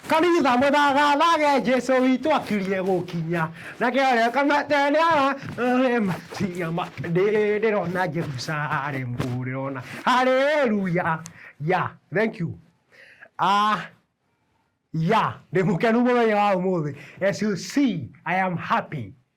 Kanitha mũthagathage Jesu witũ akirie gũkinya na kĩarĩa kamatenera matiga ndĩrona Jerusalem ndĩrona haleluya ya thank you ah ya ndĩ mũkenu mũthenya wa ũmũthĩ SUC I am happy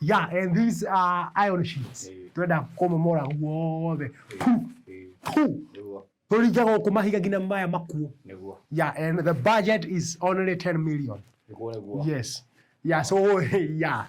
Yeah, and these are iron sheets. Eh. Twenda kumomora guothe. Eh. Pu. Eh. Pu. Turinge guku mahiga nginya maya makuo. Yeah, and the budget is only 10 million. Yes. Yeah, so yeah.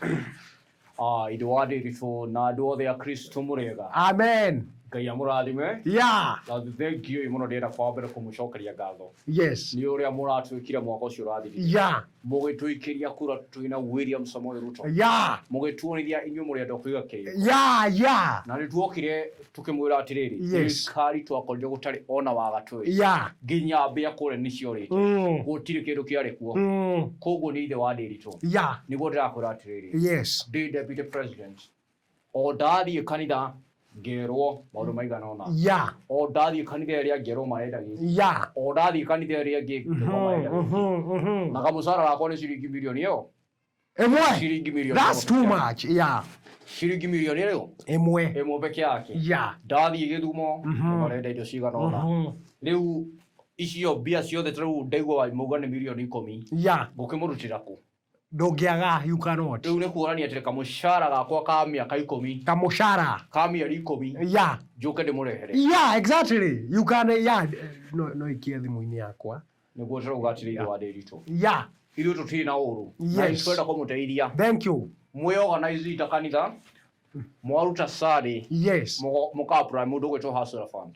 Ah, idu wadirito na ndu othe a Kristo murega. Amen. Ngai amurathime. Yeah. Na thengiũ mũno ndĩrenda kwambĩra kũmũcokeria ngatho. Yes. Nĩ ũrĩa mũratwĩkire mwaka ũcio ũrathirire. Yeah. mũgĩtũikĩria kura twĩ na William Samoei Ruto ya mũgĩtuonithia inyuĩ mũrĩ andũ a kũiga kĩrĩko ya ya na nĩ tuokire tũkĩmwĩra atĩrĩrĩ Yes. thirikari twakorire gũtarĩ ona waga twĩ ya nginya mbĩa kũrĩa nĩ ciorĩte Mm. gũtirĩ kĩndũ kĩarĩ kuo Mm. koguo nĩ ithe wa ndĩritũ ya nĩguo ndĩrakwĩra atĩrĩrĩ yes ndĩ deputy president o ndathiĩ kanitha ngerwo maundu maigana ona ya o ndathiĩ kanitha ĩrĩa ngerwo marenda gĩkĩ ya o ndathiĩ kanitha ĩrĩa ĩngĩ ngerwo marenda gĩkĩ Mhm, mhm. na kamucara gakwa nĩ ciringi mirioni ĩyo ĩmwe ciringi mirioni that's too ĩmwe. much ya ciringi mirioni ĩyo ĩmwe ĩmwe peke yake ya ndathiĩ gĩthumo Mhm. marenda indo cigana ona Mhm. rĩu icio mbia ciothe tarĩu ndaigua mauga nĩ mirioni ikũmi ya ngũkĩmũrutĩra kũ ndũngĩaga you cannot rĩu nĩ kuonania atĩ kamũcara gakwa ka mĩaka ikũmi kamũcara ka mĩeri ikũmi ya njũke ndĩmũrehere ya exactly you can ya no no ikie thimũ-inĩ yakwa nĩguo tũrauga atĩrĩ ithe wa ndĩritũ ya ithuĩ tũtirĩ na ũũru na Yes. nĩtwenda kũmũteithia thank you mwĩ organize ita kanitha mwaruta sari yes mũkaapura mũndũ gwĩtwo hustler fund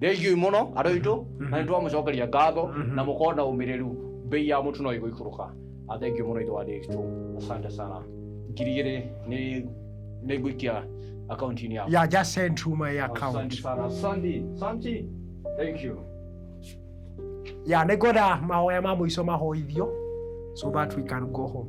thengiũi mũno andũ aitũ mhm. na nĩ twamũcokeria ngatho mhm. na mũkorwo na ũmĩrĩru mbei ya mũtu no igũikũrũka athengiũ mũno itũ wa dĩgitũ asante sana ngiri igĩrĩ nĩ ngũikia akaunti-inĩ yaku yeah, just send to my account asante sana santi santi thank you ya nĩ ngwenda mahoya ma mũico mahoithio so that we can go home